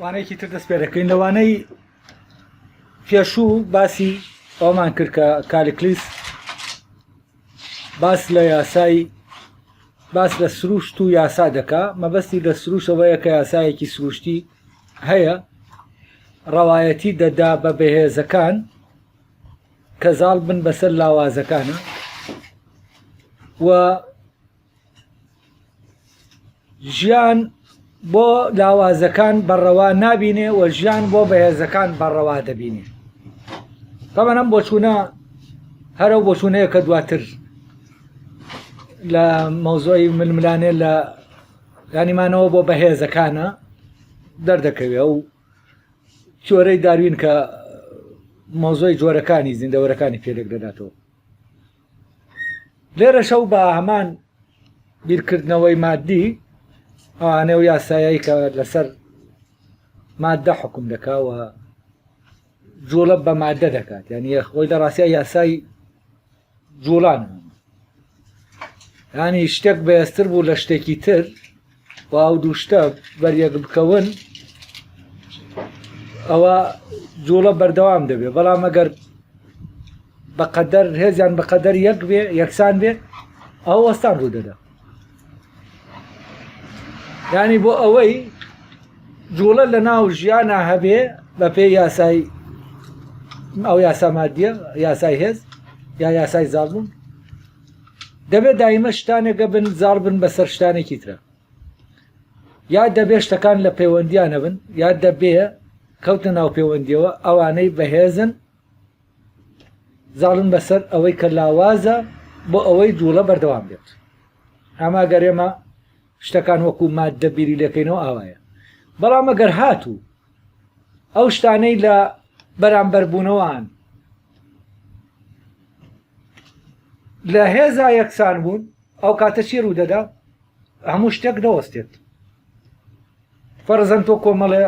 وانەیەکی تر دەست پێ دەکەین لە وانەی پێشوو باسی ئەومان کرد کە کالیکلیس باس لە یاسای باس لە سروشت و یاسا دەکا مەبەستی لە سروشەوەیە کە یاسایەکی سروشتی هەیە ڕەوایەتی دەدا بە بەهێزەکان کە زاڵ بن بەسەر لاوازەکانە و ژیان بۆ لاوازەکان بەڕەوا نابینێ و ژیان بۆ بەهێزەکان بەڕەوا دەبینێ تەمەەم بۆچوونە هەرە بۆچوونەیە کە دواتر لە مەوزۆی ململانێ لە گانیمانەوە بۆ بەهێزەکانە دەردەکەوێ و چۆرەی داروین کە مۆزۆی جۆرەکانی زیندەوەرەکانی پێلێک دەداتەوە لێرەشە و بە هەمان بیرکردنەوەی مادی ئەوانە و یاسایی کە لەسەر مادە حکم دەکاوە جوڵە بە مادە دەکات یعنی خۆی لە ڕاستە یاسای جوڵان ینی شتێک بەێستر بوو لە شتێکی تر و ئەو دوو شتە بەریەک بکەون ئەوە جوڵە بەردەوام دەبێت بەڵام ئەگەر بەقەدەر هێزیان بەقەدەر یەک بێ یەکسان بێ ئەو وەستان ڕوودەدا ینی بۆ ئەوەی جوڵە لە ناو ژیانە هەبێ بە پێ یاسای ئەو یاسا مادیە یاسای هێز یا یاسای زابوون دەبێت دایمە شتانێکە بن زار بن بەسەر شتانێکی ترە یا دەبێ شتەکان لە پەیوەندیانە بن یا دەبێ کەوتە ناو پەیوەندیەوە ئەوانەی بەهێزن زاڵن بەسەر ئەوەی کە لاوازە بۆ ئەوەی جوڵە بەردەوام بێت ئەما گەرێمە شتەکان وەکو ماد دەبیری لەکەینەوە ئاوایە بەڵام ئەگەر هاتوو ئەو شتانەی لە بەرامبەربوونەوەان لە هێزا یەکسان بوون ئەو کاتە چی ڕوو دەدا هەموو شتێک دەوەستێت فەرزەن تۆ کۆمەڵێ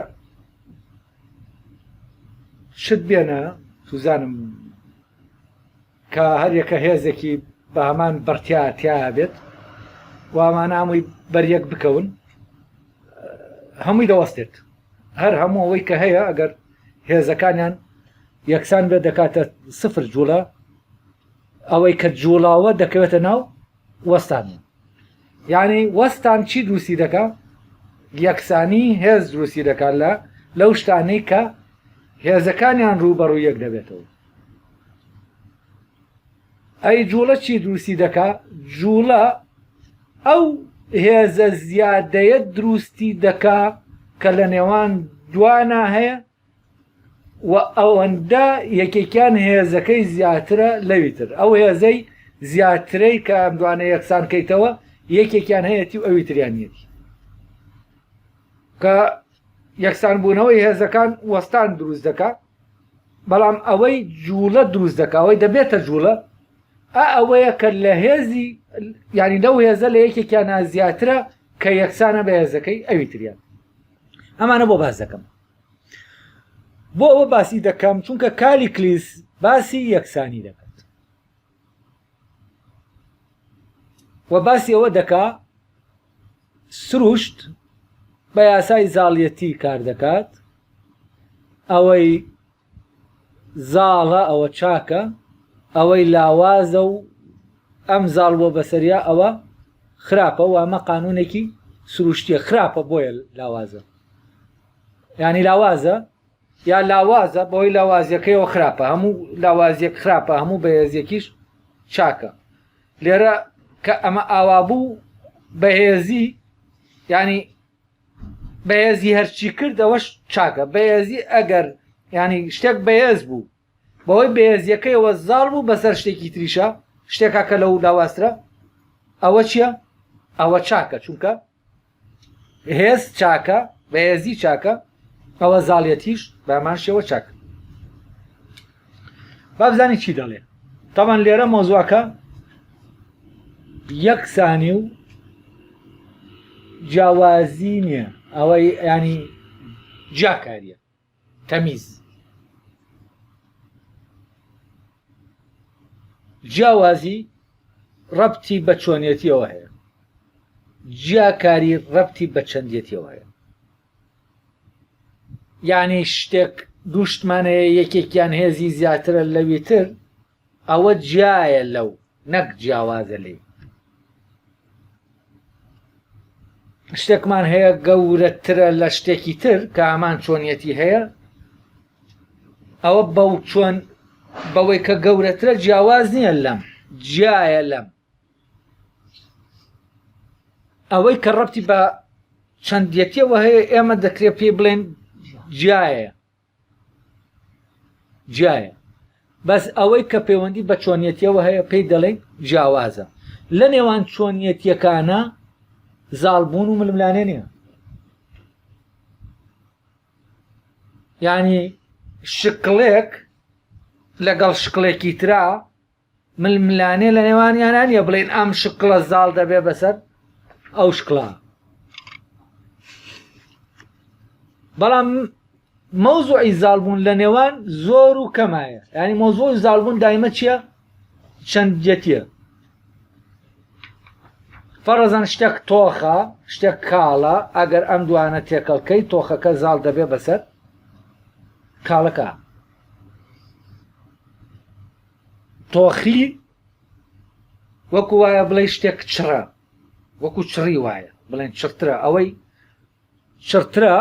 شت بێنە توزانم کە هەریەکە هێزێکی بە هەمان بەرتیاتیا بێت وامانامووی بەریەک بکەون هەمووی دەوەستێت هەر هەموو ئەوەی کە هەیە ئەگەر هێزەکانیان یەکسان بێت دەکاتە سفر جوڵە ئەوەی کە جوڵاوە دەکەوێتە ناو وەستان یعنی وەستان چی دروستی دەکە یەکسانی هێز دروستی دەکات لە لەو شتانەی کە هێزەکانیان ڕووبەڕوو یەک دەبێتەوە ئەی جوڵە چی دروستی دەکا جوڵە ئەو هێزە زیادەیە دروستی دەکا کە لە نێوان دوانا هەیە و ئەوەندە یەکێکیان هێزەکەی زیاترە لەوی تر ئەو هێزەی زیاترەی کە ئەم دوانە یەکسان کەیتەوە یەکێکیان هەیەی و ئەوی تریانیەتی کە یەکسان بوونەوەی هێزەکان وەستان دروست دەکات بەڵام ئەوەی جووڵە دروست دەکا ئەوەی دەبێتە جووڵە ئا ئەوەیە کە لە هێزی ینی لەو هێزە لە یەکێکیان نازیاترە کە یەکسانە بە هێزەکەی ئەوی تریان ئەمانە بۆ باز دەکەم بۆ ئەوە باسی دەکەم چونکە کالی کلیس باسی یەکسانی دەکەم و باسی ئەوە دەکا سروشت بە یاسای زاڵیەتی کار دەکات ئەوەی زاڵە ئەوە چاکە ئەوەی لاوازە و ئەم زاڵ بۆ بەسەریا ئەوە خراپە و ئەمە قانونێکی سروشتیە خراپە بۆیە لاوازە ینی لاوازە یا لاوازە بەوەی لاوازیەکەیەوە خراپە هەموو لاوازیەک خراپە هەموو بەهێزیەکیش چاکە لێرە کە ئەمە ئاوا بوو بەهێزی ینی بەهێزی هەرچی کرد ئەوەش چاکە بەهێزی ئەگەر ینی شتێک بەهێز بوو بەوەی بەهێزیەکەیەوە زاڵ بوو بەسەر شتێکی تریشە شتێکا کە لەو لاواسترە ئەوە چییە؟ ئەوە چاکە چونکە هێز چاکە بەهێزی چاکە ئەوە زاڵەتیش بەمان شێوە چاکە بابزانی چی دەڵێ تاوان لێرە مۆزوعەکە یەکسانی و جیاوازی نییە ئەوەی ینی جیاکاریە تەمیز. جیاوازی ڕەبتی بە چۆنیەتیەوە هەیە جیاکاری ڕەبتی بە چەندیەتیەوە هەیە یعنی شتێک دووشتمانەیە یەکێکیان هێزی زیاترە لەوی تر ئەوە جیایە لەو نەک جیاوازە لێی. شتێکمان هەیە گەورەترە لە شتێکی تر کە ئامان چۆنیەتی هەیە ئەوە بەو چۆن بەوەی کە گەورەترە جیاواز نییە لەم جیایە لەم ئەوەی کە ڕەتی بە چەندەتیەوە هەیە ئێمە دەکرێت پێی بڵێن جیایە جیایە بەس ئەوەی کە پەیوەندی بە چۆنیەتیەوە هەیە پێی دەڵێن جیاوازە لە نێوان چۆنیەتیەکانە زالبوون و ململانێ نیە ینی شکڵێک لەگەڵ شکڵێکی ترا ململانێ لە نێوانیانا نیە بڵێن ئەم شکڵە زاڵ دەبێ بەسەر ئەو شکڵە بەڵام مەوزوعی زالبوون لە نێوان زۆر و کەمایە ینی مۆزۆی زالبوون دایمە چییە چەندەتە فەرەزان شتێک تۆخە شتێک کاڵە ئەگەر ئەم دوانە تێکەڵکەی تۆخەکە زاڵ دەبێ بەسەر کاڵەکە تۆخی وەکو وایە بڵێ شتێک چڕە وەکو چڕی وایە بڵێن چڕترە ئەوەی چڕترە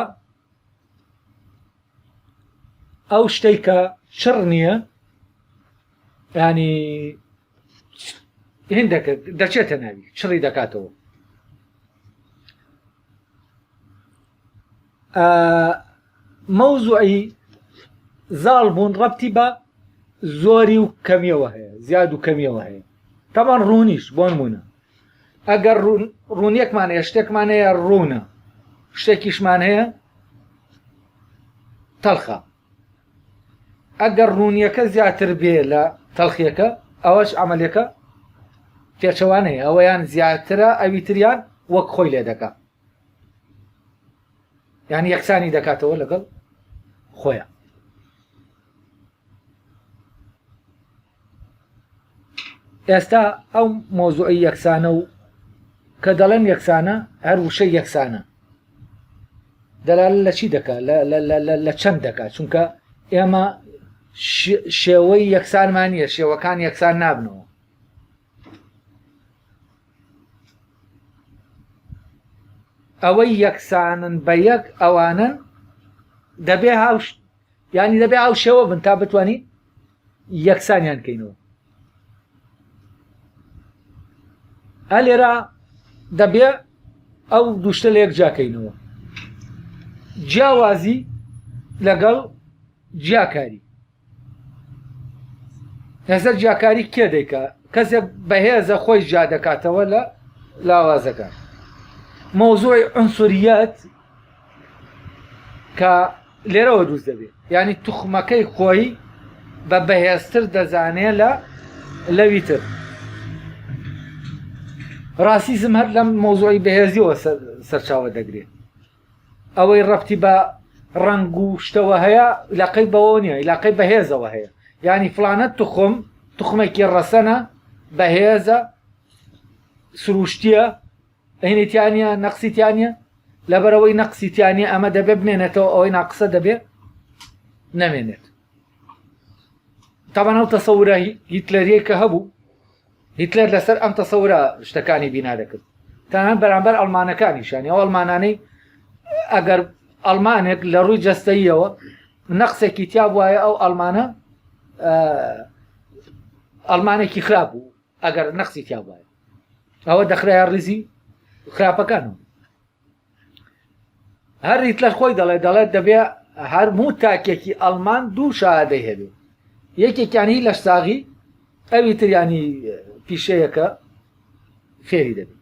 ئەو شتێک کە چڕ نییە ینی هندەکە دەچێتە ناوی چڕی دەکاتەوە مەوزوعی زاڵ بوون ڕەتی بە زۆری و کەمیەوە هەیە زیاد و کەمیەوە هەیە تەمان ڕوونیش بۆن بوونە ئەگەر ڕوونیەکمان هەیە شتێکمان هەیە ڕوونە شتێکیشمان هەیە تەلخە ئەگەر ڕوونیەکە زیاتر بێ لە تەلخیەکە ئەوەش ئەعملەکە پێچەوانەیە ئەوەیان زیاترە ئەوی تریان وەک خۆی لێ دەکە یعنی یەکسانی دەکاتەوە لەگەڵ خۆیان ئێستا ئەو مۆزوعی یەکسانە و کە دەڵێن یەکسانە هەر وشە یەکسانە دەلال لە چی دەکات لە چەند دەکات چونکە ئێمە شێوەی یەکسانمان نیە شێوەکان یەکسان نابنەوە ئەوەی یەکسانن بە یەک ئەوانن دەبێ هاوش ینی دەبێ ئاو شێوە بن تا بتانی یەکسانیان کەینەوە ئە لێرا دەبێ ئەو دوشتە لە یەک جاکەینەوە جیاوازی لەگەڵ جیاکاری هێزە جیاکاری کێ دەیکا کەسێک بەهێزە خۆی جیا دەکاتەوە لە لاوازەکە مۆزۆی ئەنسوریەت کە لێرەوە دروست دەبێت ینی توخمەکەی خۆی بە بەهێزتر دەزانێ لە لەوی تر ڕاسیزم هەر لەم مۆزۆی بەهێزیەوە سەرچاوە دەگرێت ئەوەی ڕەبتی بە ڕەنگ و شتەوە هەیە لاقەی بەوە نیە لاقەی بەهێزەوە هەیە ینی فلانە تخم تخمێکی ڕەسەنە بەهێزە سروشتیە هینێتیانە نەقسیتیانە لەبەرەوەی نەقسیتیانە ئەمە دەبێ بمێنێتەوە ئەوەی ناقسە دەبێ نەمێنێت تاوان ئەو تەسەورە هیتلەریە کە هەبوو هیتلەر لەسەر ئەم تەسەورە شتەکانی بینا دەکرد تەنان بەرامبەر ئەلمانەکانیشان ئەو ئەلمانانەی ئەگەر ئەلمانێک لە ڕووی جەستەیەوە نەقسێکی تیا وایە ئەو ئەلمانە ئەلمانێکی خراپ بوو ئەگەر نەقسی تیا وایە ئەوە دەخرای ڕیزی خراپەکانەوە هەر هیتلەر خۆی دەڵێ دەڵێت دەبێ هەرموو تاکێکی ئەلمان دوو شادەی هەبێ یەکێکیانی لە ساغی ئەوی تریانی پیشەیەەکە فێری دەبێت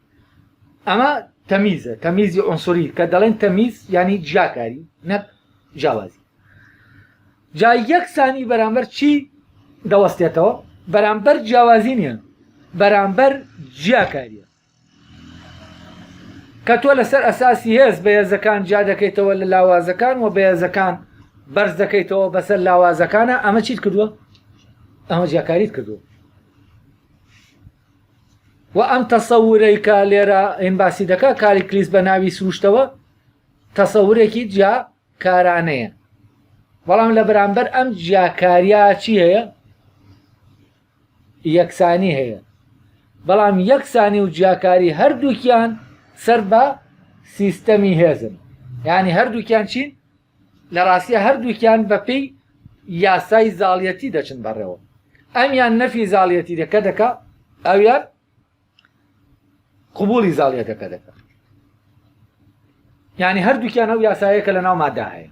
ئەمە تەمیزە تەمیزی ئۆنسوری کە دەڵێن تەمیز ینی جیاکاری نەک جیاوازی جا یەکسانی بەرامبەر چی دەوەستێتەوە بەرامبەر جیاوازی نیە بەرامبەر جیاکاریە کە تۆ لەسەر ئەساسی هێز بە هێزەکان جیا دەکەیتەوە لە لاوازەکان و بە هێزەکان بەرز دەکەیتەوە بەسەر لاوازەکانە ئەمە چیت کردووە ئەمە جیاکاریت کردووە و ئەم تەسەورەی کە لێرە ئەین باسی دەکە کاری کلیس بە ناوی سروشتەوە تەسەورێکی جیا کارانەیە بەڵام لە بەرامبەر ئەم جیاکاریا چی هەیە یەکسانی هەیە، بەڵام یەکسانی و جیاکاری هەردووکیان سەر بە سیستەمی هێزن، یانی هەردووکیان چین؟ لە ڕاستیا هەردووکیان بەپێی یاسای زاڵیەتی دەچن بەڕێوە، ئەمیان نەفی زاڵیەتی دەکە دەکا ئەویان قبولی زاڵیەتەکە دەکەن ینی هەردووکیان ئەو یاسایە کە لە ناو مادا هەیە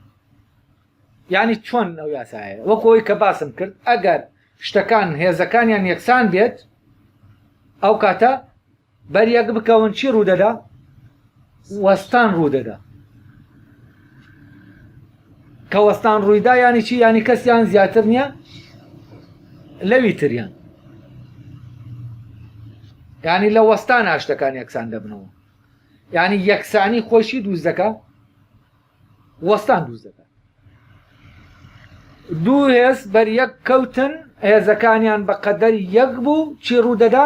ینی چۆن ئەو یاسایە وەکۆی کە باسم کرد ئەگەر شتەکان هێزەکانیان یەکسان بێت ئەو کاتە بەریەک بکەون چی ڕوودەدا وەستان ڕوودەدا. کە وەستان ڕوویدا یانی چی یانی کەسیان زیاتر نییە لەوی تریان ینی لە وەستان هاشتەکان یەکسان دەبنەوە ینی یەکسانی خۆشی دووزەکە وەستان دووزەکە دوو هێز بەر یەک کەوتن هێزەکانیان بە قەدەر یەک بوو چی ڕوودەدا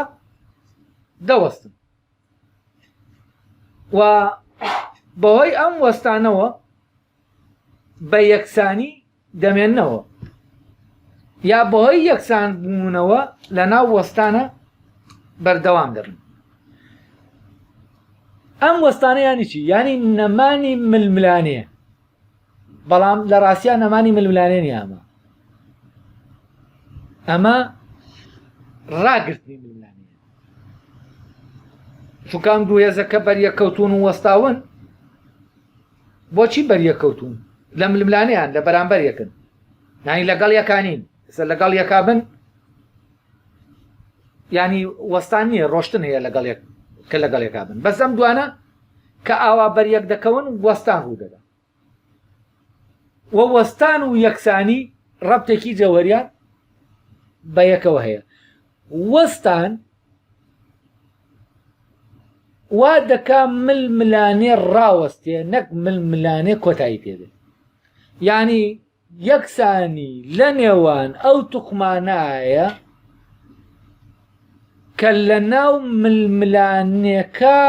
دەوەستن و بەهۆی ئەم وەستانەوە بە یەکسانی دەمێنەوە یا بەهۆی یەکسان بوونەوە لە ناو وەستانە بەردەوام دەبن ئەم وەستانە ینی چی ینی نەمانی ململانێ بەڵام لە ڕاستیان نەمانی ململانێ نیامە ئەمە ڕاگرتنی ململانێ چونکان دوو هێزەکە بەریەکەوتون و وەستاون بۆچی بەریەکەوتون لە ململانیان لە بەرامبەر یەکن نانی لەگەڵ یەکانین سەر لەگەڵ یەکا بن ینی وەستان نییە ڕۆشتن هەیە لەگەڵ کە لەگەڵ یەکا بن بەسەم دوانە کە ئاوا بەریەک دەکەون وەستان ڕوو دەدا و وەستان و یەکسانی ڕەبتێکی جەوەریان بە یەکەوە هەیە وەستان وا دەکا مل ملانێ ڕاوەستێ نەک مل ملانێ کۆتایی پێدێ ینی یەکسانی لە نێوان ئەو توخمانایە کە لە ناو ململانێکە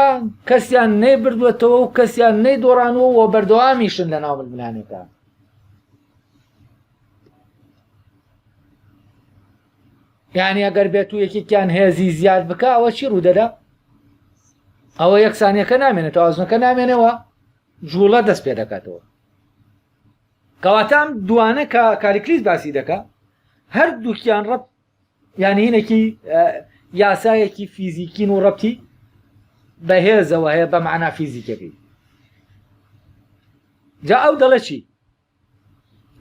کەسیان نەیبردوێتەوە و کەسیان نەیدۆڕانەوە و بەردەوامیشن لە ناو ململانێکە یعنی ئەگەر بێت و یەکێکیان هێزی زیاد بکە ئەوە چی ڕوودەدا ئەوە یەکسانیەکە نامێنێت تازنەکە نامێنەوە جوڵە دەست پێ دەکاتەوە کەواتە ئەم دوانە کە کالیکلیس باسی دەکا هەردووکیان ڕەب یانی هینێکی یاسایەکی فیزیکین و ڕەتی بەهێزەوە هەیە بە معنا فیزیکەکەی جا ئەو دەڵێ چی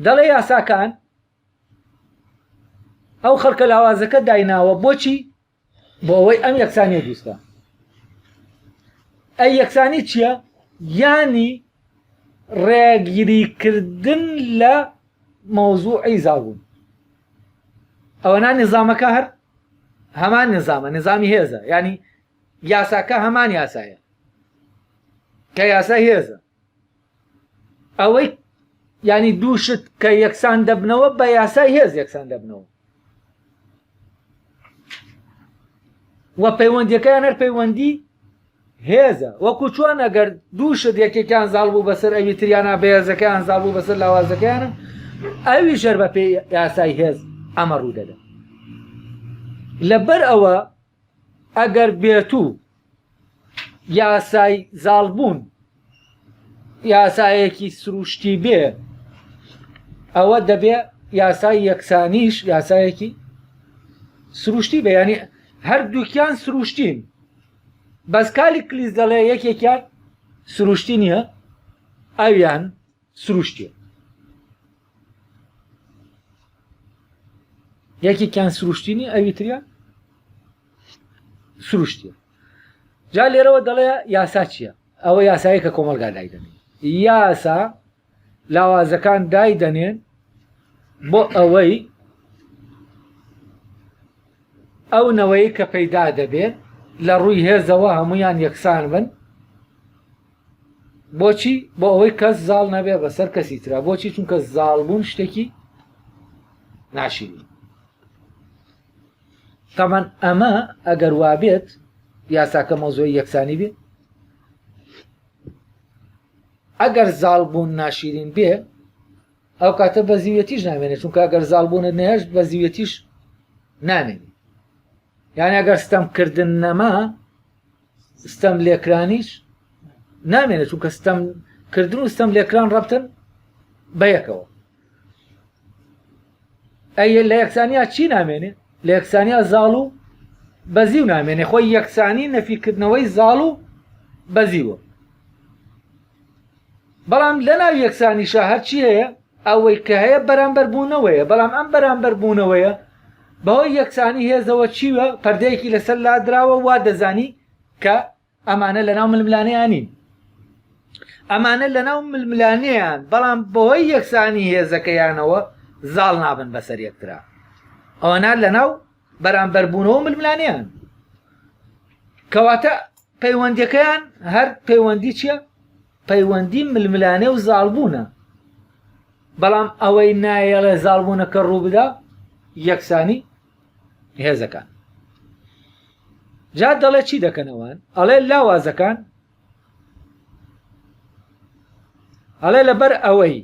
دەڵێ یاساکان ئەو خەڵکە لاوازەکە دایناوە بۆچی بۆ ئەوەی ئەم یەکسانیە دروست بە ئەی یەکسانی چییە یانی ڕێگیریکردن لە مەوزوعی زاڵبوون ئەوەنا نظامەکە هەر هەمان نظامە نظامی هێزە ینی یاساکە هەمان یاسایە کە یاسا هێزە ئەوەی ینی دوو شت کە یەکسان دەبنەوە بە یاسای هێز یەکسان دەبنەوە و پەیوەندیەکەیان هەر پەیوەندی هێزە وەکو چۆن ئەگەر دوو شت یەکێکیان زاڵ بوو بەسەر ئەوی تریانە بەهێزەکەیان زاڵ بوو بەسەر لاوازەکەیانە ئەوی ژەر بە پێی یاسای هێز ئەمە ڕوو دەدە لەبەر ئەوە ئەگەر بێتوو یاسای زاڵبوون یاسایەکی سروشتی بێ ئەوە دەبێ یاسای یەکسانیش یاسایەکی سروشتی بە ینی هەردووکیان سروشتین بەس کالی کلیس دەڵێ یەکێکیان سروشتی نییە ئەویان سروشتیە یەکێکیان سروشتینی ئەویتریا سروشتیە جا لێرەوە دەڵێ یاسا چییە ئەوە یاسایی کە کۆمەلگا دایدەنێن یاسا لاوازەکان دایدەنێن بۆ ئەوەی ئەو نەوەی کە پەیدا دەبێت لە ڕووی هێزەوە هەمویان یەکسان بن بۆچی بۆ ئەوەی کەس زاڵ نەبێ بەسەر کەسی تررا بۆچی چونکە زاڵبوون شتێکی ناشیری تامان ئەمە ئەگەر وابێت یاساکە مۆزۆی یەکسانی بێ ئەگەر زاڵبوون ناشیرین بێ ئەو کاتە بە زیوەتیش نامێنێت چونکە گەر زالبوونە نێشت بە زیوەتیش نامێنێت یان ئەگەر ستەمکردن نەما ستەم لێکرانیش نامێنێت چونکە ستەم کردن و ستەم لێکران ڕەبتن بە یەکەوە ئەی لە یەکسانیا چی نامێنێ لە یەکسانیا زاڵ و بەزی و نامێنێ خۆی یەکسانی نەفیکردنەوەی زاڵ و بەزیوە بەڵام لە ناو یەکسانیشە هەرچی هەیە ئەوەی کە هەیە بەرامبەربوونەوەیە بەڵام ئەم بەرامبەربوونەوەیە بەهۆی یەکسانی هێزەوە چیوە پەردەیەکی لەسەر لادراوە وا دەزانی کە ئەمانە لە ناو ململانیانین ئەمانە لە ناو ململانیان بەڵام بەهۆی یەکسانی هێزەکەیانەوە زاڵ نابن بەسەر یەکترا ئەوەنا لە ناو بەرامبەربوونەوە ململانیان کەواتە پەیوەندەکەیان هەر پەیوەندی چیە پەیوەندی ململانێ و زاڵبوونە بەڵام ئەوەی نایەڵێ زاڵبوونەکە ڕووبدا یەکسانی هێزەکان جا دەڵێ چی دەکەنەوەن ئەڵێ لاوازەکان ئەڵێ لەبەر ئەوەی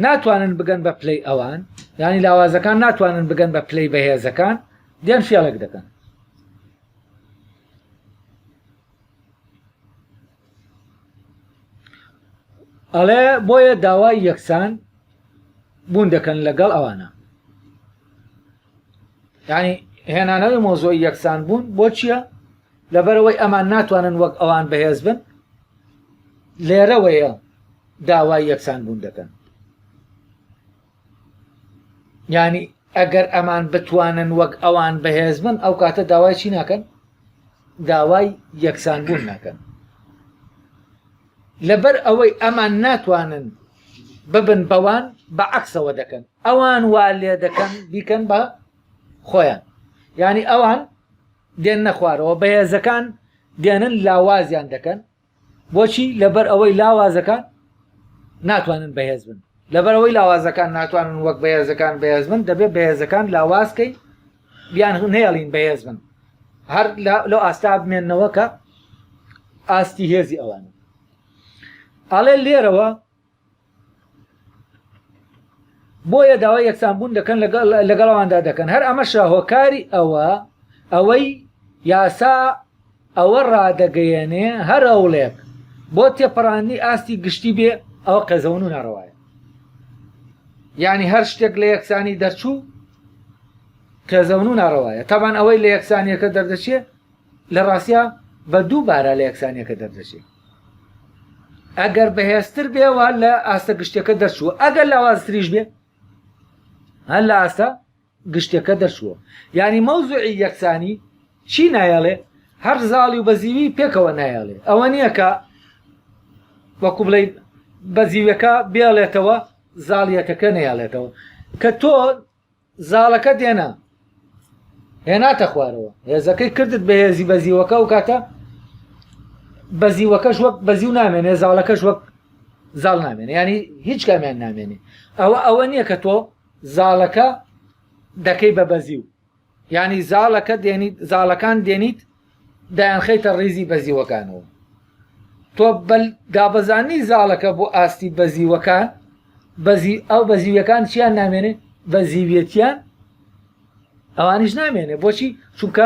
ناتوانن بگەن بە پلەی ئەوان ینی لاوازەکان ناتوانن بگەن بە پلەی بەهێزەکان دێن فێڵێک دەکەن ئەڵێ بۆیە داوای یەکسان بوون دەکەن لەگەڵ ئەوانە یعنی هێنانەوەی مۆزۆی یەکسان بوون بۆ چییە لەبەرەوەی ئەمان ناتوانن وەک ئەوان بەهێز بن لێرەوەیە داوای یەکسان بوون دەکەن ینی ئەگەر ئەمان بتوانن وەک ئەوان بەهێز بن ئەو کاتە داوای چی ناکەن داوای یەکسان بوون ناکەن لەبەر ئەوەی ئەمان ناتوانن ببن بەوان بە عکسەوە دەکەن ئەوان وا لێ دەکەن بیکەن بە خۆیان ینی ئەوان دێن نەخوارەوە بەهێزەکان دێنن لاوازیان دەکەن بۆچی لەبەر ئەوەی لاوازەکان ناتوانن بەهێز بن لەبەرەوەی لاوازەکان ناتوانن وەک بەهێزەکان بەهێز بن دەبێت بەهێزەکان لاوازکەین بیان نێڵین بەهێز بن هەر لە ئاستا بمێنەوە کە ئاستی هێزی ئەوان ئاڵێ لێرەوە بۆیە داوای یەکسانبوون دەکەن لەگەڵەواندا دەکەن هەر ئەمەشە هۆکاری ئەوە ئەوەی یاسا ئەوە ڕادەگەیەنێ هەر هەوڵێک بۆ تێپەڕاندنی ئاستی گشتی بێ ئەوە قێزەون و ناڕەوایە یعنی هەر شتێک لە یەکسانی دەرچوو قێزەون و ناڕەوایە تابان ئەوەی لە یەکسانیەکە دەردەچێ لە ڕاستە بە دوو بارە لە یەکسانیەکە دەردەچێ ئەگەر بەهێزتر بێوە لە ئاستە گشتەکە دەرچوو ئەگەر لاوازتریش بێ هەر لە ئاستە گشتەکە دەرچووە یانی مەوزوعی یەکسانی چی نایەڵێ هەر زاڵی و بەزیوی پێکەوە نایەڵێ ئەوە نییە کە وەکو بڵێ بەزیوەکە بێڵێتەوە زاڵیەکەکە نەیەڵێتەوە کە تۆ زاڵەکە دێنا هێناتە خوارەوە هێزەکەی کردت بە هێزی بەزیوەکە و کاتە بەزیوەکەش وەک بەزیو نامێنێ زاڵەکەش وەک زاڵ نامێنێ ینی هیچ کامیان نامێنێ ئەوە ئەوە نییە کە تۆ زاڵەکە دەکەی بە بەزیو یانی زاڵەکە دێنیت زاڵەکان دێنیت دایانخەیتە ڕیزی بەزیوەکانەوە تۆ بەل دابەزانی زاڵەکە بۆ ئاستی بەزیوەکان بەزی ئەو بەزیویەکان چیان نامێنێ بە زیویەتیان ئەوانیش نامێنێ بۆچی چونکە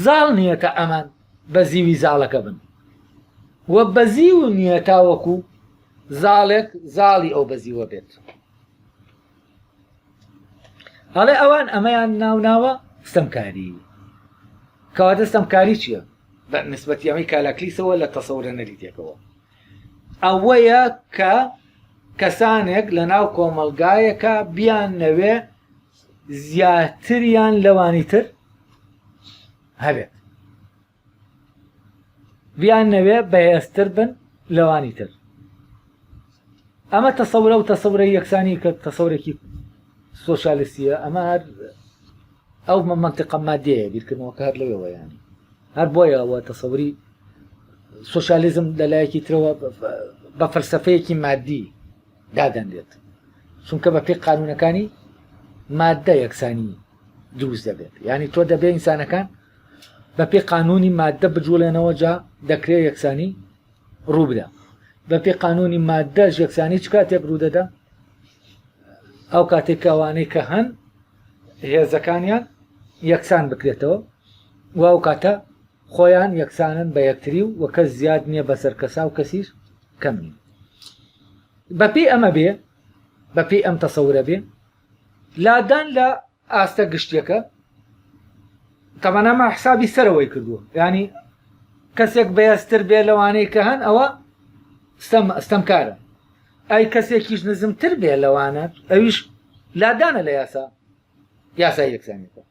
زاڵ نییە کە ئەمان بە زیوی زاڵەکە بن وە بەزی و نییە تاوەکو زاڵێک زاڵی ئەو بەزیوە بێت ئەڵێ ئەوان ئەمەیان ناوناوە ستەمکاری کەواتە ستەمکاری چییە بە نسبەتی ئەمەی کالاکلیسەوە لە تەسەورە نەریتێکەوە ئەوەیە کە کەسانێک لە ناو کۆمەلگایەکە بیان نەوێ زیاتریان لەوانی تر هەبێت بیان نەوێ بەهێزتر بن لەوانی تر ئەمە تەسەورە و تەسەورە یەکسانی کە تەسەورێکی سۆسیالستیە ئەمە هەر ئەو منطقە مادەیە بیرکردنەوە کار لەوەوە ینی هەر بۆیە ئەوە تەسەوری سوسیالیزم لەلایەکی ترەوە بە فەلسفەیەکی مادی دادەنرێت چونکە بە پێی قانونەکانی مادە یەکسانی دروست دەبێت یعنی تۆ دەبێ ئینسانەکان بەپێ قانونی مادە بجوڵێنەوە جا دەکرێت یەکسانی ڕووبدا بەپێ قانونی مادە یەکسانی چ کاتێک ڕوودەدا ئەو کاتێک کەوانەی کە هەن هێزەکانیان یەکسان بکرێتەوە و ئەو کاتە خۆیان یەکسانن بە یەکتری و وە کەس زیاد نییە بەسەر کەسا و کەسیش کەم نیە بەپی ئەمە بێ بەپی ئەم تەسەورە بێ لادان لە ئاستە گشتیەکە تەمەنەما حسابی سەرەوەی کردووە ینی کەسێک بەهێزتر بێ لەوانەی کە هەن ئەوە ستەمکارە ئەی کەسێکیش نزمتر بێ لەوانە ئەویش لادانە لە یاسا یاسای یەکسانیەکە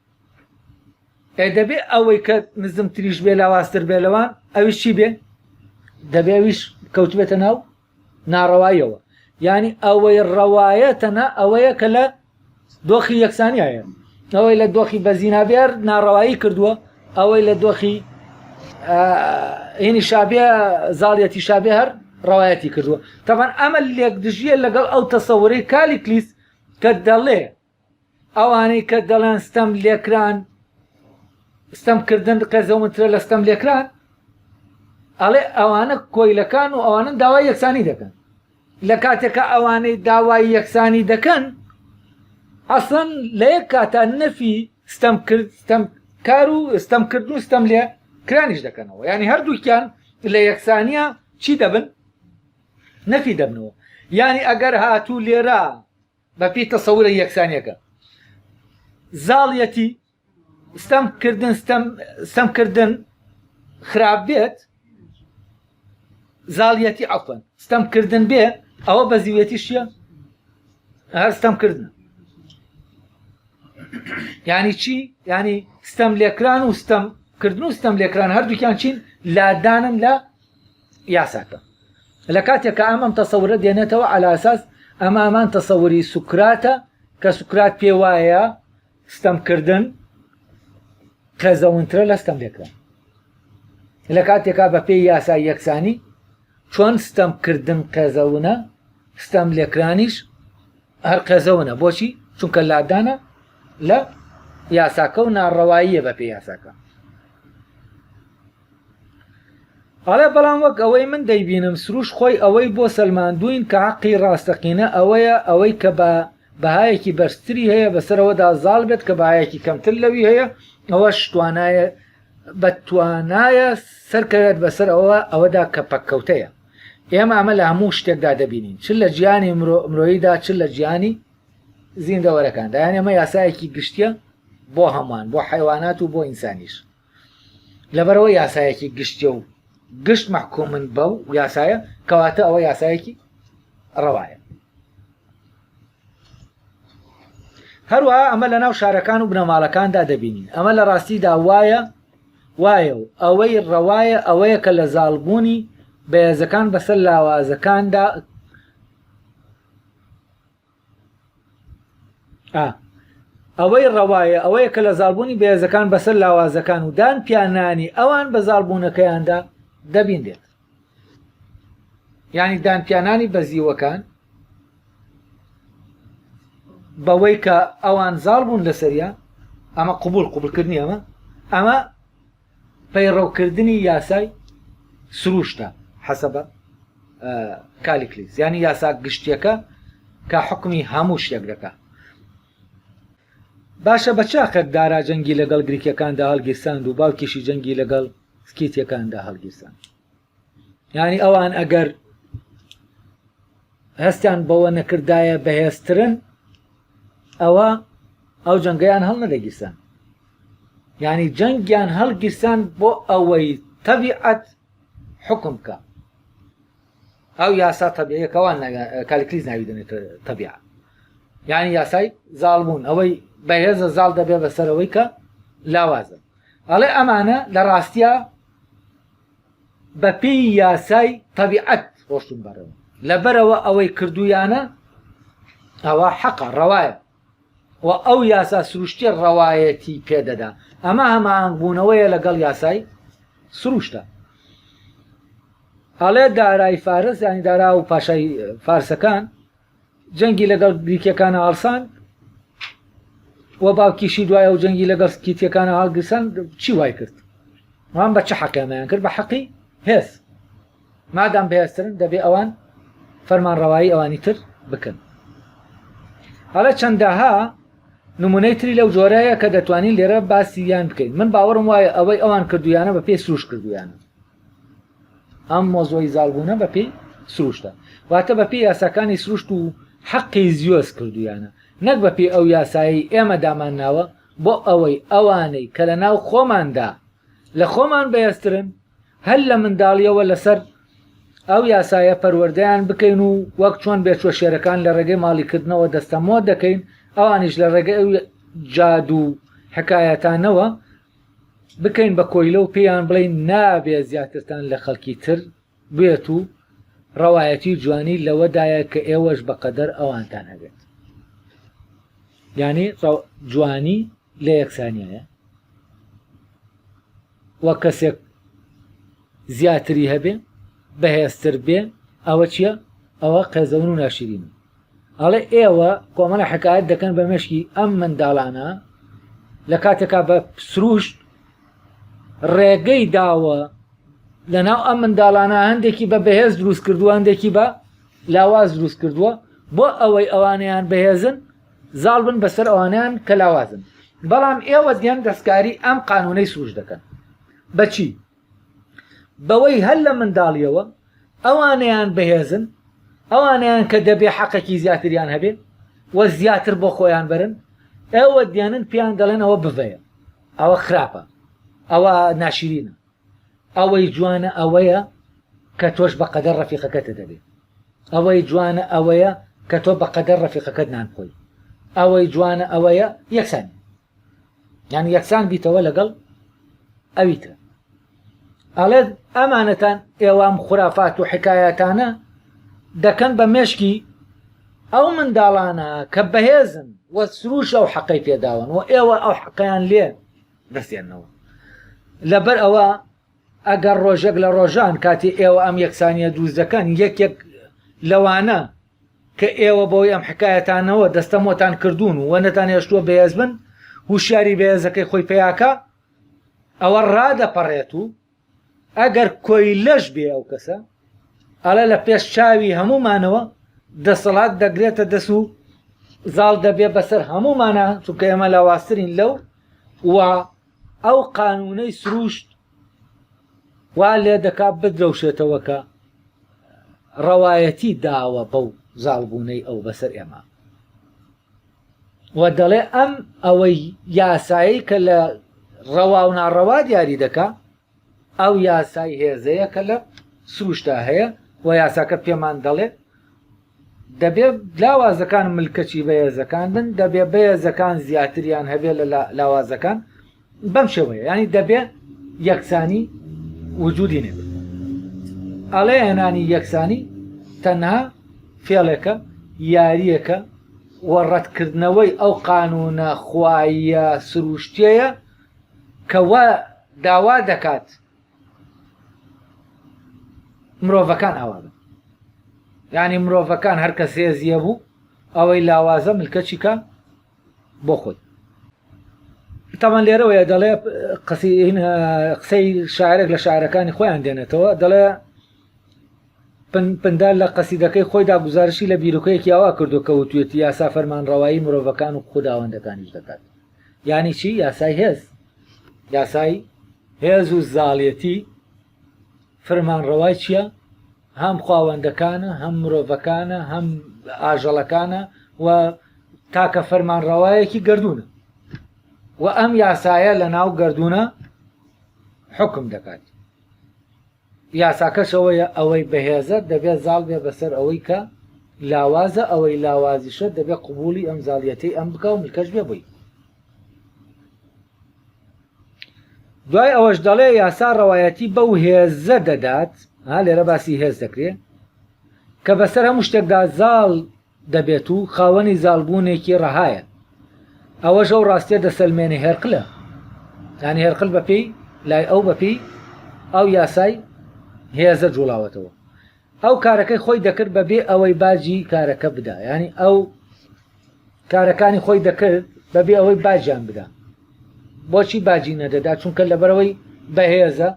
ئێ دەبێ ئەوەی کە نزمتریش بێ لاوااستر بێ لەوان ئەویش چی بێ دەبێویش کەوتبێتە ناو ناڕەواییەوە یانی ئەوەی ڕەوایە تەنها ئەوەیە کە لە دۆخی یەکسانیە ئەوەی لە دۆخی بەزینابێر ناڕەوایی کردووە ئەوەی لە دۆخی هینی شابێ زاڵیەتی شابێ هەر ڕەوایەتی کردووە تەبان ئەمە لێک دژیە لەگەڵ ئەو تەسەورەی کالی کلیس کە دەڵێ ئەوانەی کە دەڵێن ستەم لێکران ستەمکردن قێزەونترە لە ستەم لێکران ئەڵێ ئەوانە کۆیلەکان و ئەوانن داوای یەکسانی دەکەن لە کاتێکە ئەوانەی داوای یەکسانی دەکەن ئەسڵەن لە یەک کاتە نەفی ستەم کرد ستەم کار و ستەم کردن و ستەم لێ کرانیش دەکەنەوە ینی هەردووکیان لە یەکسانیە چی دەبن نەفی دەبنەوە ینی ئەگەر هاتوو لێرە بە پێی تەسەورە یەکسانیەکە زاڵیەتی ستەم کردن ستەم کردن خراپ بێت زاڵیەتی ئەفەن ستەم کردن بێ ئەوە بە زیوێتی شیە هەر ستەم کردن ینی چی ینی ستەم لێکران و ستەم کردن و ستەم لێکران هەردووکیان چین لادانن لە یاساکە لە کاتێک کە ئەم ئەم تەسەورە دێنێتەوە ئەلاساس ئەمە ئەمان تەسەوری سوکراتە کە سوکرات پێ وایە ستەمکردن قێزەونترە لە ستەم لێکرا لە کاتێکا بە پێی یاسا یەکسانی چۆن ستەمکردن قێزەونە ستەم لێکرانیش هەر قێزەونە بۆچی چونکە لادانە لە یاساکە و ناڕەواییە بە پێ یاساکە ئەڵێ بەڵام وەک ئەوەی من دەیبینم سروش خۆی ئەوەی بۆ سلماندوین کە عقی ڕاستەقینە ئەوەیە ئەوەی کە بە بەهایەکی بەرزتری هەیە بەسەرەوەدا زاڵ بێت کە بەهایەکی کەمتر لەوی هەیە ئەوە شتوانایە بە توانایە سەرکەوێت بەسەر ئەوە ئەوەدا کە پەککەوتەیە ئێمە ئەمە لە هەموو شتێکدا دەبینین چ لە جیانی مرۆییدا چ لە جیانی زیندەوەرەکان دایان ئەمە یاسایەکی گشتە بۆ هەمان بۆ حیوانات و بۆ ئینسانیش لەبەرەوە یاسایەکی گشتە و گشت محکومن بەو یاسایە کەواتە ئەوە یاسایەکی ڕەوایە هەروەها ئەمە لە ناو شارەکان و بنەماڵەکاندا دەبینین ئەمە لە ڕاستیدا وایە وایە و ئەوەی ڕەوایە ئەوەیە کە لە زاڵبوونی بەێزەکان بەسەر لاوازەکاندا ئەوەی ڕەوایە ئەوەیە کە لە زالبوونی بەێزەکان بەسەر لاوازەکان و دان پیانانی ئەوان بە زالبوونەکەیاندا دەبینێت یعنی دانپیانانی بەزیوەکان بەوەی کە ئەوان زاڵ بوون لەسەریا ئەمە قوبول قوبولکردنی ئەمە ئەمە پەیڕەوکردنی یاسای سروشتە حەسەبە کالیکلی زیانی یاسا گشتیەکە کە حکمی هەموو شتێک دەکە باشە بە چاقێک دارا جەنگی لەگەڵ گریکەکاندا هەڵگیرساند و باوکیشی جەنگی لەگەڵ سکیتەکاندا هەڵگیرسان یعنی ئەوان ئەگەر هەستیان بەوە نەکردایە بەهێزترن ئەوە ئەو جەنگەیان هەڵ نەدەگیرسان یعنی جەنگیان هەڵگیرسان بۆ ئەوەی تەبیعەت حکم بکە ئەو یاسا تەبیعیە کە وان ناویان کالکلیز ناوی دەنێت تەبیع یعنی یاسای زاڵبوون ئەوەی بەهێزە زاڵ دەبێ بەسەرەوەی کە لاوازە ئەڵێ ئەمانە لە ڕاستە بە پێی یاسای تەبیعەت ڕۆشتون بەرەوە لەبەرەوە ئەوەی کردویانە ئەوە حەقە ڕەوایە و ئەو یاسا سروشتیە ڕەوایەتی پێدەدا ئەمە هەماهنگبوونەوەیە لەگەڵ یاسای سروشتە ئەڵێ دارای فارس ینی دارا و پاشای فارسەکان جەنگی لەگەڵ گریکەکانە هەڵسان و باوکیشی دوایە و جەنگی لەگەڵ کیتیەکانە هەڵگرسان چی وای کرد وان بە چه حەقیانیان کرد بە حەقی هێز مادام بەهێزترن دەبێ ئەوان فەرمانڕەوایی ئەوانی تر بکەن هەڵە چەندەها نمونەی تری لەو جۆرەیە کە دەتوانین لێرە باسی یان بکەین من باوەڕم وایە ئەوەی ئەوان کردویانە بە پێی سروش کردویانە ئەم مۆزۆی زالبوونە بە پێی سروشتە واتە بە پێی یاساکانی سروشت و حەقی زیۆز کردویانە نەک بە پێی ئەو یاسایی ئێمە دامان ناوە بۆ ئەوەی ئەوانەی کە لە ناو خۆماندا لە خۆمان بەهێزترن هەر لە منداڵیەوە لەسەر ئەو یاسایە پەروەردەیان بکەین و وەک چۆن بێچوە شێرەکان لە ڕێگەی ماڵیکردنەوە دەستەمۆ دەکەین ئەوانیش لە ڕێگە ئەو جاد و حکایەتانەوە بکەین بە کۆیلە و پێیان بڵین نابێ زیاترتان لە خەڵکی تر بێت و ڕەوایەتی جوانی لەوەدایە کە ئێوەش بەقەدەر ئەوانتان هەبێت یعنی جوانی لە یەکسانیانە وە کەسێک زیاتری هەبێ بەهێزتر بێ ئەوە چییە ئەوە قێزەون و ناشرینە ئەڵێ ئێوە کۆمەڵە حکایەت دەکەن بە مشکی ئەم منداڵانە لە کاتێکا بە سروشت ڕێگەی داوە لە ناو ئەم منداڵانە هەندێکی بە بەهێز دروست کردووە هەندێکی بە لاواز دروست کردووە بۆ ئەوەی ئەوانیان بەهێزن زاڵ بن بەسەر ئەوانیان کە لاوازن بەڵام ئێوە دیێن دەستکاری ئەم قانونەی سروش دەکەن بەچی بەوەی هەر لە منداڵیەوە ئەوانیان بەهێزن ئەوانیان کە دەبێ حەقەکی زیاتریان هەبێ و زیاتر بۆ خۆیان بەرن ئێوە دیێنن پێیان دەڵێن ئەوە بڤەیە ئەوە خراپە ئەوە ناشرینە ئەوەی جوانە ئەوەیە کە تۆش بە قەدەر ڕەفیقەکەتە دەبێ ئەوەی جوانە ئەوەیە کە تۆ بە قەدەر ڕەفیقەکەت نان خۆی ئەوەی جوانە ئەوەیە یەکسان یان یەکسان بیتەوە لەگەڵ ئەوی تر ئەڵێت ئەمانەتان ئێوام خورافات و حکایەتانە دەکەن بە مێشکی ئەو منداڵانە کە بەهێزن وە سروش ئەو حەقەی پێداون و ئێوە ئەو حەقیان لێ دەستێننەوە. لەبەر ئەوە ئەگەر ڕۆژێک لە ڕۆژان کاتی ئێوە ئەم یەکسانیە دووست دەکەن یەکێک لەوانە کە ئێوە بۆی ئەم حکایەتانەوە دەستەمۆتان کردوون و نەتان هێشتووە بەهێز بن هوشیاری بەهێزەکەی خۆی پیاکە ئەوە ڕادەپەڕێت و ئەگەر کۆیلەش بێ ئەو کەسە ئەڵێ لە پێش چاوی هەمومانەوە دەسەڵات دەگرێتە دەس و زاڵ دەبێ بەسەر هەمومانە چونکە ئێمە لاواسترین لەو و ئەو قانونەی سروشت وا لێ دەکا بدرەوشێتەوەکە ڕەوایەتی داوە بەو زاڵبوونەی ئەو بەسەر ئێمە و دەڵێ ئەم ئەوەی یاسایی کە لە ڕەوا و ناڕەوا دیاری دەکا ئەو یاسای هێزەیە کە لە سروشتا هەیە و یاساکە پێمان دەڵێ دەبێ لاوازەکان ملکەچی بەهێزەکان بن دەبێ بەهێزەکان زیاتریان هەبێ لە لاوازەکان بەم شێوەیە ینی دەبێ یەکسانی وجودی نێت ئەڵێ هێنانی یەکسانی تەنها فێڵێکە یاریەکە و ڕەتکردنەوەی ئەو قانونە خوایە سروشتەیە کەوا داوا دەکات مرۆڤەکان ئاوادە ینی مرۆڤەکان هەرکەس هێزیە بوو ئەوەی لاوازە ملکەچیکە بۆ خۆی تاوان لێرەوەیە دەڵێ قسەی شاعرێک لە شاعرەکانی خۆیان دێنێتەوە دەڵێ پندار لە قەسیدەکەی خۆیدا گزارشی لە بیرۆکەیەکی ئەوە کردو کە وتوێتی یاسا فەرمان ڕەوایی مرۆڤەکان و خودداوەندەکانیش دەکات یانی چی یاسای هێز یاسای هێز و زاڵەتی فرمانڕەوای چیە؟ هەم خواوەندەکانە هەم مرۆڤەکانە هەم ئاژەڵەکانە و تاکە فەرمانڕەوایەکی گردونە و ئەم یاسایە لە ناو گردونە حکم دەکات یاساکەشەوەیە ئەوەی بەهێزە دەبێت زاڵ بێ بەسەر ئەوەی کە لاوازە ئەوەی لاوازیشە دەبێت قوبولی ئەم زاڵیەتی ئەم بکە و ملکەش بێ بووی دوای ئەوەش دەڵێ یاسا ڕەوایەتی بەو هێزە دەدات ها لێرە باسی هێز دەکرێت کە بەسەر هەموو شتێکدا زاڵ دەبێت و خاوەنی زالبوونێکی ڕەهایە ئەوە ژەو ڕاستێ دەسەلمێنێ هێرقلە ینی هێرقل بەپی لای ئەو بەپی ئەو یاسای هێزە جوڵاوەتەوە ئەو کارەکەی خۆی دەکرد بەبێ ئەوەی باجی کارەکە بدا ینی ئەو کارەکانی خۆی دەکرد بەبێ ئەوەی باجیان بدا بۆچی باجی نەدەدا چونکە لەبەرەوەی بەهێزە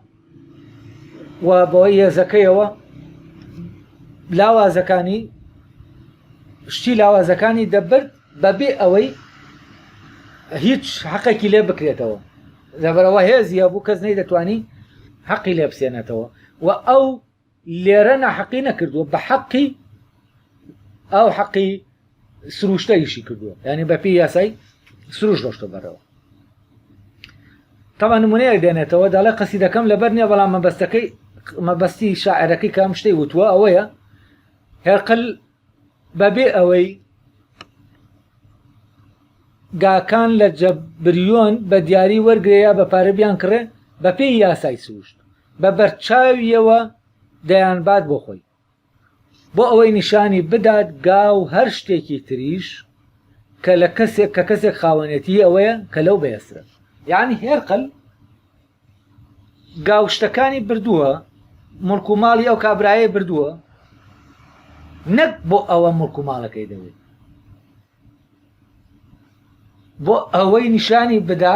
و بەوەی هێزەکەیەوە لاوازەکانی شتی لاوازەکانی دەبرد بەبێ ئەوەی هیچ حەقێکی لێ بکرێتەوە لەبەرەوە هێزیە بوو کەس نەی دەتوانی حەقی لێ بسێنێتەوە و ئەو لێرە ناحەقی نەکردووە بە حەقی ئەو حەقی سروشتە ئیشی کردووە ینی بەپی یاسای سروش ڕۆشتە بەرەوە تەما نمونەیەک دێنێتەوە دەڵێ قەسی دەکەم لەبەر نیە بەڵام مەبەستەکەی مەبەستی شاعرەکەی کام شتەی وتووە ئەوەیە هێرقل بەبێ ئەوەی گاکان لە جەبریۆن بە دیاری وەرگێ یا بە پارە بیان کڕێ بە پێی یاسای سروشت بە بەرچاویەوە دەیان بات بۆ خۆی بۆ ئەوەی نیشانی بدات گا و هەر شتێکی تریش کە لە کەسێک کە کەسێک خاوەنێتی ئەوەیە کە لەو بەێسرە یعنی هێرقل گاوشتەکانی بردووە مڵک و ماڵی ئەو کابرایە بردووە نەک بۆ ئەوە مڵک و ماڵەکەی دەوێت بۆ ئەوەی نیشانی بدا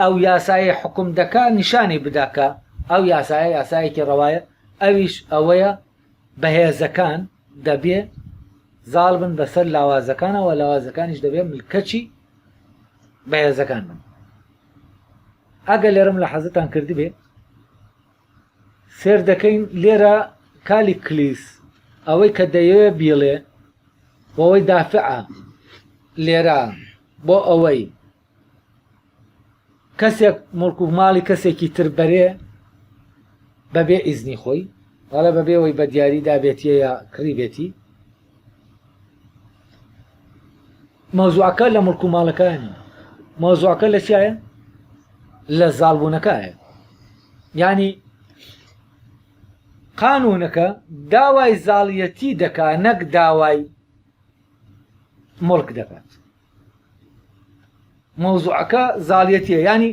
ئەو یاسایە حکم دەکا نیشانی بداکە ئەو یاسایە یاسایەکی ڕەوایە ئەویش ئەوەیە بەهێزەکان دەبێ زاڵ بن بەسەر لاوازەکانەوە لاوازەکانیش دەبێ ملکەچی بەهێزەکان بن ئەگەر لێرەم لە حەزتان کردبێ سێر دەکەین لێرە کالی کلیس ئەوەی کە دەیەوێ بیڵێ بۆەوەی دافعە لێرە بۆ ئەوەی کەسێک مڵک و ماڵی کەسێکی تر بەرێ بەبێ ئیزنی خۆی والا بەبێەوەی بە دیاریدا بێتیە یا کڕی بێتی مەوزوعەکە لە مڵک و ماڵەکان مەوزوعەکە لە چایە لە زاڵبوونەکایە ینی قانونەکە داوای زاڵیەتی دەکا نەک داوای مڵک دەکات مەوزوعەکە زاڵیەتە ینی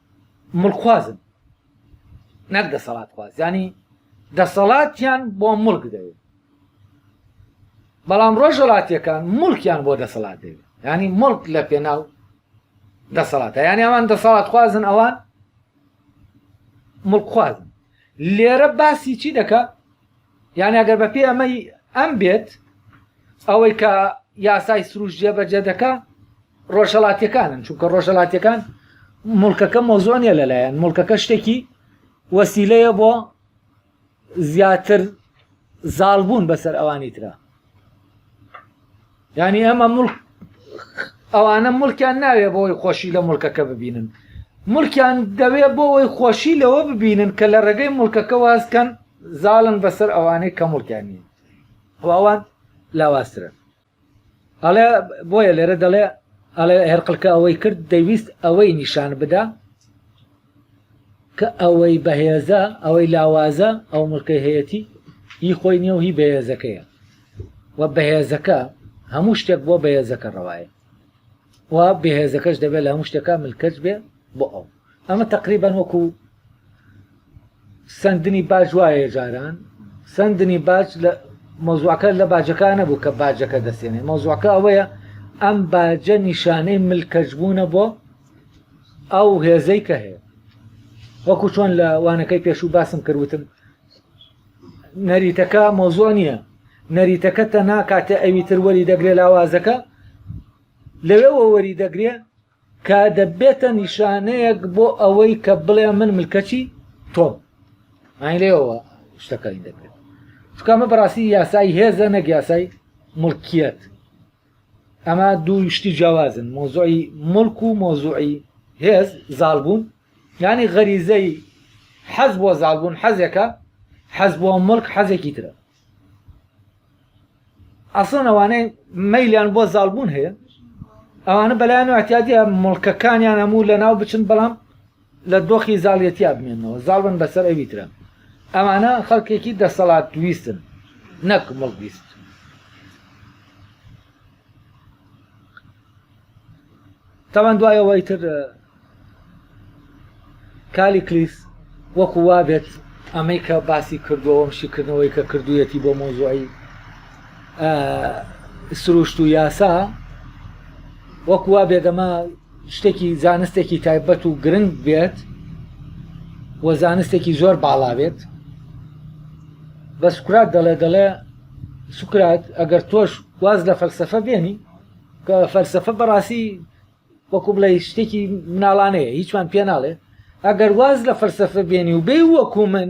مڵکخوازن نەک دەسەڵاتخواز ینی دەسەڵاتیان بۆ مڵک دەوێت بەڵام ڕۆژەڵاتیەکان ملکیان بۆ دەسەڵات دەوێت ینی ملک لە پێناو دەسەڵاتە یانی ئەوان دەسەڵات خوازن ئەوان ملکخوازن لێرە باسی چی دەکە یانی ئەگەر بە پێی ئەمەی ئەم بێت ئەوەی کە یاسای سروش جێبەجێ دەکا ڕۆژهڵاتیەکانن چونکە ڕۆژهڵاتیەکان مڵکەکە مۆزۆنیە لەلایەن مڵکەکە شتێکی وەسیلەیە بۆ زیاتر زاڵبوون بەسەر ئەوانی ترە یانی ئەمە مڵک ئەوانە ملکیان ناوێ بۆی خۆشی لە ملکەکە ببینن ملکیان دەوێ بۆەوەی خۆشی لەوە ببینن کە لە ڕێگەی ملکەکە وازکەن زاڵن بەسەر ئەوانەی کە ملکیانی ئەوان لاواسترن ئەڵێ بۆیە لێرە دەڵێ ئەڵێ هەرقلکە ئەوەی کرد دەویست ئەوەی نیشان بدا کە ئەوەی بەهێزە ئەوەی لاوازە ئەو ملکەی هەیەتی هی خۆی نیە و هی بەهێزەکەیە و بەهێزەکە هەموو شتێک بۆ بەهێزەکە ڕەوایە و بەهێزەکەش دەبێت لە هەموو شتەکە ملکەچ بێ بۆ ئەو ئەمە تقریبان وەکو سندنی باج وایە جاران سندنی باج لە مۆزوعەکە لە باجەکان نەبوو کە باجەکە دەسێنێ مۆزوعەکە ئەوەیە ئەم باجە نیشانەی ملکەچبوونە بۆ ئەو هێزەی کە هەیە وەکو چۆن لە وانەکەی پێشوو باسم کردوتم نەریتەکە مۆزۆ نییە نەریتەکە تەنا کاتێ ئەوی تر وەری دەگرێ لاوازەکە لەوێ وەری دەگرێ کە دەبێتە نیشانەیەک بۆ ئەوەی کە بڵێ من ملکەچی تۆم ئاین لێەوە شتەکانی دەکرێت چکامە بەڕاستی یاسایی هێزە نەگیاسای ملکیت ئەمە دوو شتی جیاوازن مۆزۆی ملک و مۆزۆی هێز زالبوون یانی غەریزەی حەز بۆ زالبوون حەزێکە حەز بۆ ملک حەزێکی ترە ئەسڵەن ئەوانەی مەیلیان بۆ زالبوون هەیە ئەوانە بەلایەن احتیادی مڵکەکانیان هەموو لە ناو بچن بەڵام لە دۆخی زاڵیەتیا بمێنەوە زاڵ بن بەسەر ئەوی ترە ئەمانە خەڵکێکی دەسەڵات ویستن نەک مڵک ویست تاوان دوایەوەی تر کالی کلیس وەکو وا بێت ئەمەی کە باسی کردوەوەم شیکردنەوەی کە کردویەتی بۆ مۆزۆی سروشت و یاسا وەکو وا بێدەمە شتێکی زانستێکی تایبەت و گرنگ بێت و زانستێکی زۆر باڵا بێت بە سوکرات دەڵێ دەڵێ سوکرات ئەگەر تۆش واز لە فەلسفە بێنی کە فەلسفە بەڕاستی وەکو بڵێ شتێکی مناڵانەیە هیچمان پێ ناڵێ ئەگەر واز لە فەلسفە بێنی و بێ وەکو من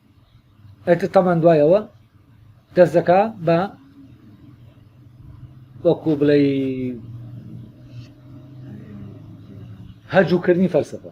ئیتر تەمان دوای ئەوە دەست دەکا بە وەکو بڵێ هەجووکردنی فەلسفە